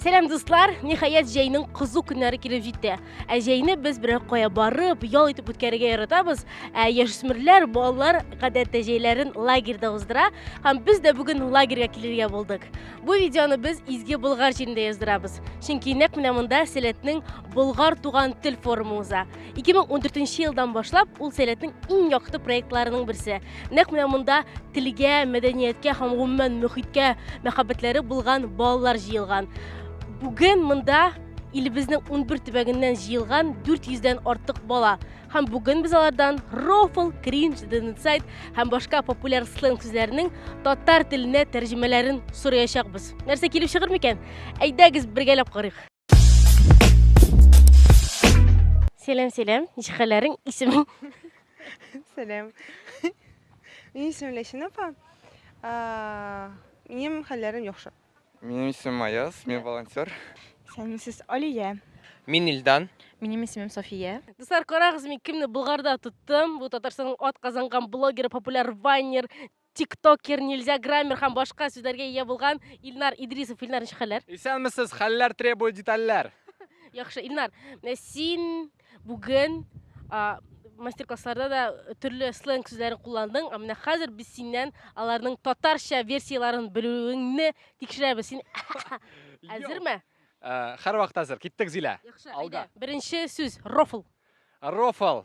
Сәлам дуслар! Ниһаять җәйнең кызу көннәре килеп җитте. Ә җәйне без берәр кая барып, ял итеп үткәрергә яратабыз. Ә яшүсмерләр, балалар гадәттә җәйләрен лагерьда уздыра, һәм без дә бүген лагерьга килергә булдык. Бу видеоны без Изге Болгар җирендә яздырабыз. Чөнки нәкъ менә монда Сәләтнең Болгар туган тел форумы уза. 2014 елдан башлап ул сәләтнең иң якты проектларының берсе. Нәкъ менә монда телгә, мәдәнияткә һәм гомумән мөхиткә мәхәббәтләре булган балалар җыелган. Бүген монда илебезнең 11 төбәгеннән җыелган 400 дән артык бала. Һәм бүген без алардан рофл, кринж, денсайт һәм башка популяр сленг сүзләренең татар теленә тәрҗемәләрен сораячакбыз. Нәрсә килеп чыгыр микән? Әйдәгез бергәләп карыйк. Сәлам, сәлам. Ничек хәлләрең? Исемең? Сәлам. Минем исемем Ләсин апа. А, Минем хәлләрем яхшы. Минем исемем Аяз, мин волонтер. Исәнмесез, Алия. Мин Илдан. Минем исемем София. Дуслар, карагыз, мин кемне Болгарда тоттым. Бу Татарстанның атказанган блогеры, популяр вайнер, тиктокер, нельзя граммер һәм башка сүзләргә ия булган Илнар Идрисов. Илнар, ничек хәлләр? Исәнмесез, хәлләр требует детальләр. Яхшы, Илнар, э, син бүген а, мастер-классларда да төрле сленг сүзләрен кулландың, ә менә хәзер без синнән аларның татарча версияләрен белүеңне тикшерәбез. Син әзерме? Э, Һәр вакыт әзер. Киттек, Зилә. Яхшы, Алга. әйдә. Беренче сүз, рофл. Рофл.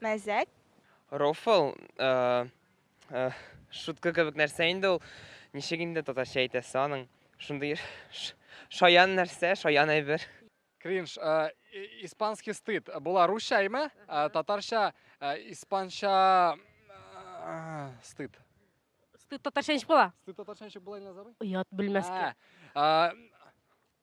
Мәзәк. Рофл, шутка кебек нәрсә инде ул. Ничек инде татарча әйтәсе аның? Шундый шаян нәрсә, шаян әйбер. Кринж, испанский стыд. Була русча әйме? Татарча, испанча стыд. Стыд татарча ничек була? Стыд татарча ничек була, Илназ абый? Оят белмәскә.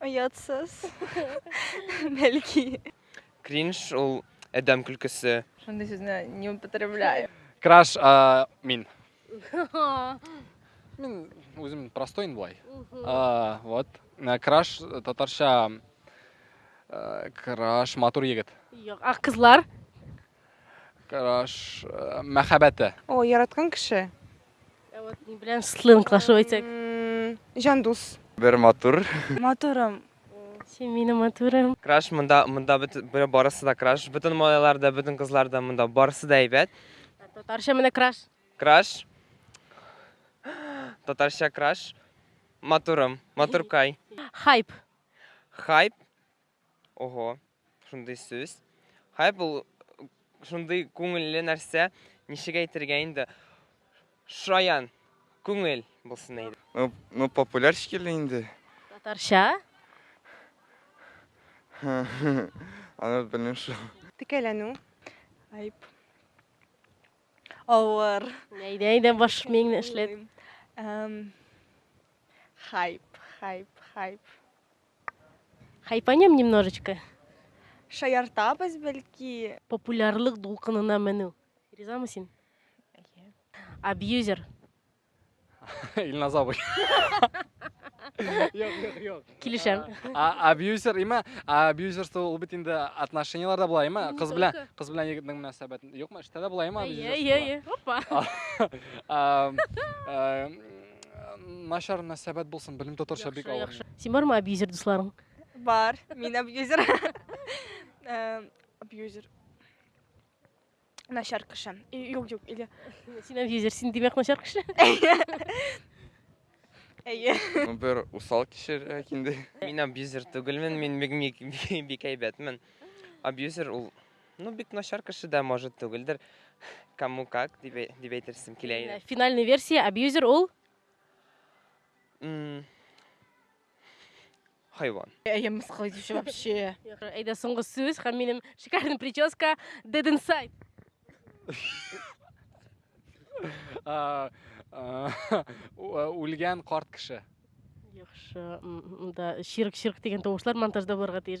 Оятсыз. Бәлки. Кринж ул әдәм көлкесе. Шундый сүзне не употребляю. Краш а, мин. Мин үзем простой инде болай. А, Вот. Ә, Краш э, татарча э, краш матур егет. Юк, а кызлар? Караш э, мәхәббәте. О, яраткан кеше. Ә вот ни белән сленглашып әйтсәк? М, Җан дус. Бер матур. Матурым. Син минем матурым. Краш монда монда бөт- бер- барысы да краш. Бөтен малайлар да, бөтен кызлар да монда барысы да әйбәт. Татарча менә краш. Краш. Татарча краш. Матурым, матуркай. Хайп. Хайп. Ого, шундый сүз. Хайп ул шундый күңелле нәрсә, ничек әйтергә инде? Шаян, күңел булсын әйдә. Ну, ну популяр шикелле инде. Татарча? Аны белмим шул. Текәләнү. Айп. Авыр. Әйдә, әйдә, баш миңне эшләт. Эм, Хайп, хайп, хайп. Хайпанем немножечко. Шаяртабыз бәлки. Популярлык дулкынына менү. Ризамы син? Әйе. Абьюзер. Илназ абый. Юк, юк, юк. Килешәм. Абьюзер, има, абьюзерство ул бит инде отношениеләрдә була, има, кыз белән, кыз белән егетнең мөнәсәбәте. Юкмы, эштә дә була, има, абьюзер. Әйе, әйе, опа. Начар мәсәбәт булсын, белем татарча бик Яхшы, авыр. яхшы. Син бармы абьюзер дусларың? Бар, мин абьюзер. Э, Абьюзер. Начар кеше. И- Юк, юк, или... Син абьюзер, син димәк начар кеше. Әйе. Ну, бер усал кешерәк инде. Мин абьюзер түгелмен, мин бик бик- бик әйбәтмен. Абьюзер ул Ну бик начар кеше дә может түгелдер. Кому как дип әй- дип әйтерсем килә Ә, иде. Финальный версия абьюзер ул М, Хайван. Әйе, мыскыл итүче вообще. Әйдә соңгы сүз һәм минем шикарный прическа Dead Inside. А, а, у- а, Үлгән карт кеше. Яхшы. м, м, Да, чирк-чирк дигән тавышлар монтажда булырга тиеш.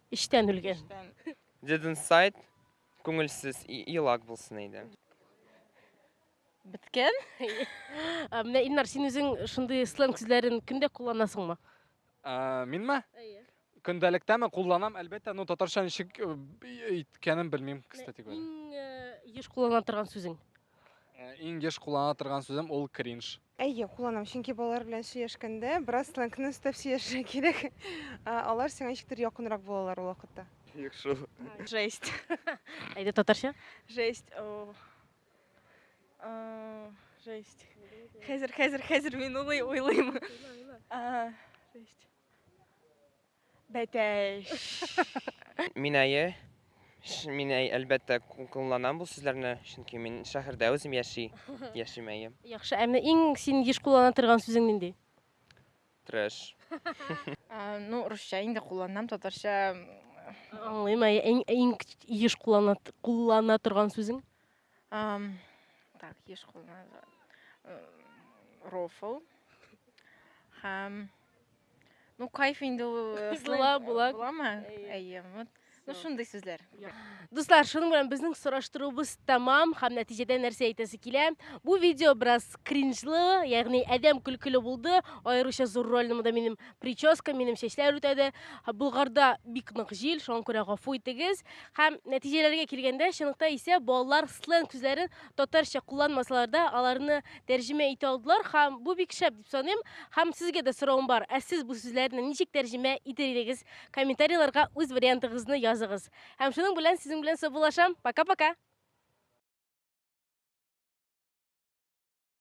Эчтән үлгән. Didn't сайт күңелсез елак булсын иде. Беткән? Ә, Менә Илнар, син үзең шундый сленг сүзләрен көндә кулланасыңмы? Ә, Минме? Әйе. Көндәлектәме кулланам, әлбәттә, но татарча ничек э, б- әйткәнен белмим, кстати говоря. Иң э, еш куллана торган сүзең. Ә, Иң еш куллана торган сүзем ул кринж. Әйе, кулланам, чөнки балалар белән сөйләшкәндә бераз сленгны өстәп сөйләшергә кирәк. Ә, Алар сиңа ничектер якынрак булалар ул вакытта. Юк шул. Жесть. Әйдә татарча. Жесть. О. Э, Жесть. Хәзер, хәзер, хәзер мин улый, уйлыйм. Э, Жесть. Бәтәш. Мин әйе, мин әй, әлбәттә кулланам бу сүзләрне, чөнки мин шәһәрдә үзем яши, яшим әйе. Яхшы, ә менә иң син еш куллана торган сүзең нинди? Трэш. Ну, русча инде кулланам, татарча. Аңлыйм, әйе, иң, иң еш куллана, куллана торган сүзең? Ам, так, еш куллана. Рофл. Һәм Ну, кайф инде ул э, Зла слэм, э, була. буламы? Әйе. Әйе, вот. Ну, шундый сүзләр. Дуслар, шуның белән безнең сораштыруыбыз тәмам һәм нәтиҗәдә нәрсә әйтәсе килә? Бу видео бераз кринжлы, ягъни адәм көлкеле булды. Аеруча зур рольне монда минем прическа, минем чәчләр үтәде. Һә, Болгарда бик нык җил, шуңа күрә гафу итегез. Һәм нәтиҗәләргә килгәндә, чынлыкта исә балалар сленг сүзләрен татарча кулланмасалар да, аларны тәрҗемә итә алдылар һәм бу бик шәп Саныйм һәм сезгә дә соравым бар. Ә сез бу сүзләрне ничек тәрҗемә итер идегез? Комментарийларга үз вариантыгызны языгыз. Һәм шуның белән сезнең белән саубуллашам. Пока-пока!